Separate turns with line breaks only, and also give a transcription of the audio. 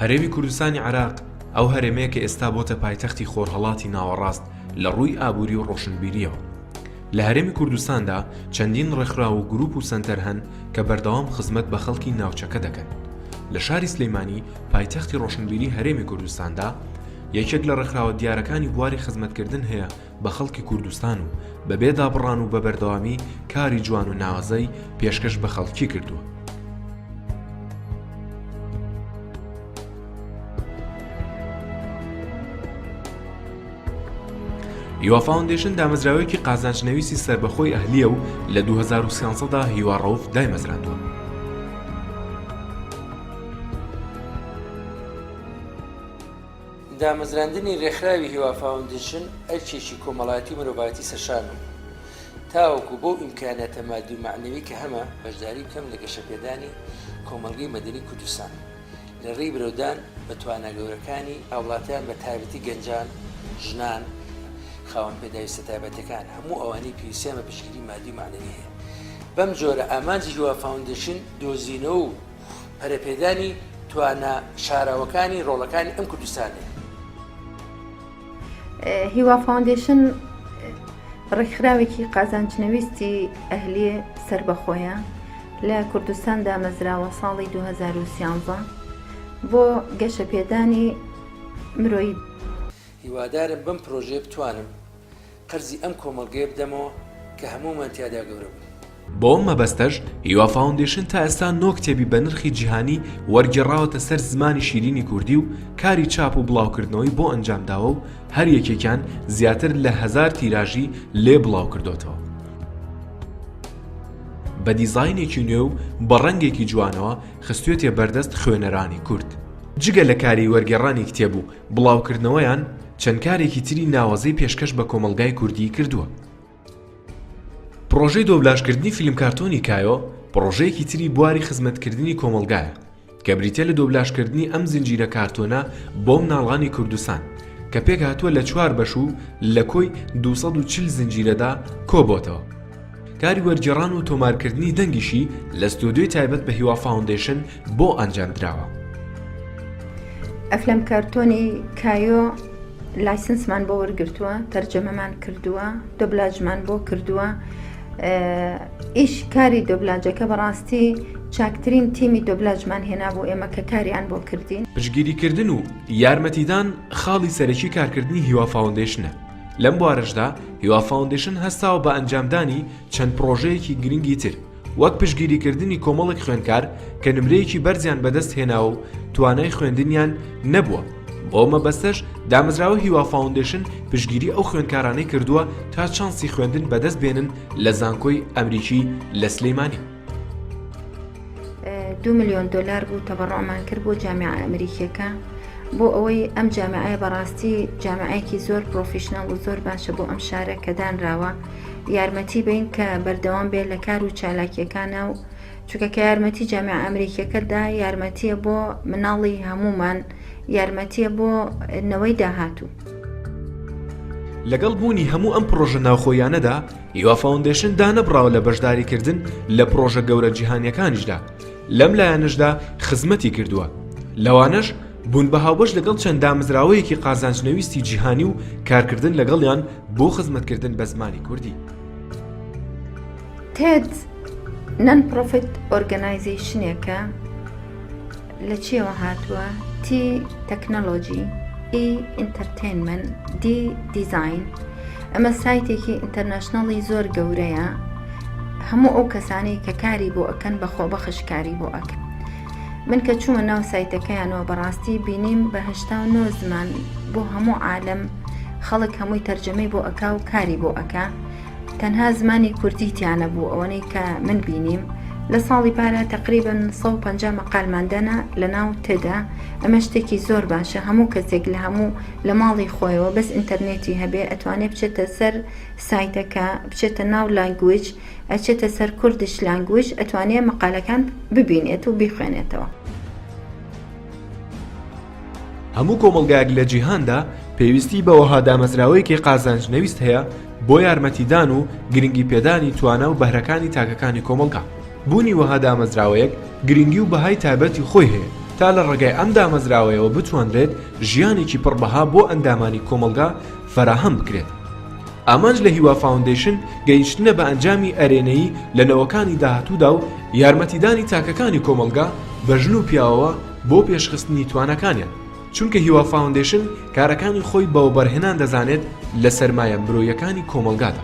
هەرێمی کوردستانی عراق ئەو هەرێمەیە کە ئێستا بۆتە پایتەختی خۆرهڵاتی ناوەڕاست لە ڕووی ئابووری و ڕۆشنبیریەوە لە هەرێمی کوردستاندا چەندین ڕێکخرا و گروپ و سنتەر هەن کە بەردەوام خزمەت بە خەڵکی ناوچەکە دەکەن لە شاری سلەیمانی پایتەختی ڕۆشنبیری هەرێمی کوردستاندا یەکێک لە ڕێکخراوە دیارەکانی بواری خزمەتکردن هەیە بە خەڵکی کوردستان و بەبێ دابڕان و بە بەردەوامی کاری جوان و ناوازەی پێشکەش بە خەڵکی کردووە. هیوا فاوندێشن دامەزراوەیەکی قازانجنەویستی سربەخۆی ئەهلیە و لە 2013دا هیوا ڕەوف دایمەزراندووە.
دامەزراندنی رێکخراوی هیوا فاوندیشن ئەرکێکی کۆمەڵایەتی و مرۆڤایەتی سەرشان و تاوەکو بەو ئیمکاناتە مادی و معنەوی کە هەمە بەشداری بکەم لە گەشەپێدانی کۆمەڵگەی مەدەنی کوردستان لە ڕێی برەودان بە توانا گەورەکانی هاوڵاتیان بە تایبەتی گەنجان ژنان خاوەن پێداویستە تایبەتەکان هەموو ئەوانەی پێویستیان بە پشتگیری مادی معنەوی هەیە بەم جۆرە ئامانجی هیوا فاوندشن دۆزینەوە و پەرەپێدانی توانا شاراوەکانی ڕۆڵەکانی ئەم کوردستانێ.
هیوا فاوندیشن ڕێکخراوێکی قازانجنەویستی ئەهلی سربەخۆیە لە کوردستان دامەزراوە ساڵی 2013 بۆ گەشەپێدانی مرۆی
هیوادارم بەم پرۆژێ بتوانم قەرزی ئەم کۆمەڵگەیە بدەمەوە کە هەموومان تیادا گەورە بووین. بۆ ئەم مەبەستەش
هیوا فاوندەیشن تا ئێستا نۆ کتێبی بە نرخی جیهانی وەرگێڕاوەتە سەر زمانی شیرینی کوردی و کاری چاپ و بڵاوکردنەوەی بۆ ئەنجام داوە و هەر یەکێکیان زیاتر لە هەزار تیراژی لێ بڵاو کردۆتەوە. بە دیزاینێکی نوێ و بە ڕەنگێکی جوانەوە خستوێتیە بەردەست خوێنەرانی کورد. جگە لە کاری وەرگێڕانی کتێب و بڵاوکردنەوەیان چەند کارێکی تری ناوەزەی پێشکەش بە کۆمەڵگای کوردیی کردووە. پڕۆژەی دۆبلاژکردنی فیلم کارتۆنی کایۆ پڕۆژەیەکی تری بواری خزمەتکردنی کۆمەڵگایە کە بریتیە لە دۆبلاژکردنی ئەم زنجیرە کارتۆنە بۆ مناڵانی کوردستان کە پێکهاتووە لە چوار بەش و لە کۆی دوو سەد و چل زنجیرەدا کۆبۆتەوە. کاری وەرگێڕان و تۆمارکردنی دەنگیشی لە ستۆدیۆی تایبەت بە هیوا فاوندەیشن بۆ ئەنجام دراوە.
ئەفلەم کارتۆنی کایۆ لایسنسمان بۆ وەرگرتووە تەرجەمەمان کردووە دۆبلاجمان بۆ کردووە ئیش کاری دۆبلاجەکە بەڕاستی چاکترین تیمی دۆبلاجمان هێنا بۆ ئێمە کە کاریان بۆ کردین پشگیریکردن و
یارمەتیدان خاڵی سەرەکی کارکردنی هیوا فاوندەیشنە لەم بوارەشدا هیوا فاوندەیشن هەستاوە بە ئەنجامدانی چەند پڕۆژەیەکی گرنگی تر وەک پشتگیریکردنی کۆمەڵێک خوێندکار کە نمرەیەکی بەرزیان بەدەست هێناوە و توانای خوێندنیان نەبووە بۆ مەبەستەش دامەزراوە هیوا فاوندەیشن پشتگیری ئەو خوێندکارانەی کردووە تا چانسی خوێندن بەدەست بێنن لە زانکۆی ئەمریکی لە سلیمانی
دوو ملیۆن دلار بوو تەبڕۆمان کرد بۆ جامعە ئەمریکیەکە بۆ ئەوەی ئەم جامعەیە بەڕاستی جامعەیەکی زۆر پرۆفیشنەڵ و زۆر باشە بۆ ئەم شارە کە دانراوە یارمەتی بین کە بەردەوام بێت لە کار و چالاکیەکانە و چونکە کە یارمەتی جامع ئەمریکیەکەدا یارمەتیە بۆ مناڵی هەمومان یارمەتیە بۆ نەوەی داهاتوو.
لەگەڵ بوونی هەموو ئەم پڕۆژە ناوخۆییانەدا هیوا فاوندەیشن دانەبڕاوە لە بەشداریکردن لە پڕۆژە گەورە جیهانیەکانیشدا، لەم لایەنەشدا خزمەتی کردووە، لەوانەش بوون بە هاوبەش لەگەڵ چەند دامەزراوەیەکی قازانجنەویستی جیهانی و کارکردن لەگەڵیان بۆ خزمەتکردن بە زمانی کوردی. تێد
نەن پڕۆفیت ئۆرگەنایزەیشنێکە، لە چیەوە هاتووە؟ T تەکنەلۆجی E ئینتەرتەینمەن D دیزاین ئەمە سایتێکی ئینتەرنشنەڵی زۆر گەورەیە هەموو ئەو کەسانی کە کاری بۆ ئەکەن بە خۆبەخش کاری بۆ ئەکەن من کە چوومە ناو سایتەکەیانەوە بەڕاستی بینیم بە هشتا و نۆ زمان بۆ هەموو عالم خەڵک هەمووی تەرجەمەی بۆ ئەکا و کاری بۆ ئەکا تەنها زمانی کوردی تیانەبوو ئەوەنەی کە من بینیم لە ساڵی پارە تقریبا 150 مەقالماندەنا لە ناو تێدا ئەمە شتێکی زۆر باشە هەموو کەسێک لە هەموو لە ماڵی خۆیەوە بەس ئینتەرنێتی هەبێ ئەتوانێ بچێتە سەر سایتەکە بچێتە ناو لانگویج ئەچێتە سەر کوردش لانگویج ئەتوانێ مەقالەکان ببینێت و بیخوێنێتەوە.
هەموو کۆمەڵگایەک لە جیهاندا پێویستی بە وەها دامەزراوەیەکی قازانج نەویست هەیە بۆ یارمەتیدان و گرنگی پێدانی توانا و بەهرەکانی تاکەکانی کۆمەڵگا. بوونی وەها دامەزراوەیەک گرنگی و بەهای تایبەتی خۆی هەیە تا لە ڕێگای ئەم دامەزراوەیەوە بتوانرێت ژیانێکی پڕ بەها بۆ ئەندامانی کۆمەڵگا فەراهەم بکرێت. ئامانج لە هیوا فاوندەیشن گەیشتنە بە ئەنجامی ئەرێنیی لە نەوەکانی داهاتوودا و یارمەتیدانی تاکەکانی کۆمەڵگا بە ژن و پیاوەوە، بۆ پێشخستنی تواناکانیان، چونکە هیوا فاوندەیشن کارەکانی خۆی بە وەبەرهێنان دەزانێت لە سەرمایە مرۆیەکانی کۆمەڵگادا.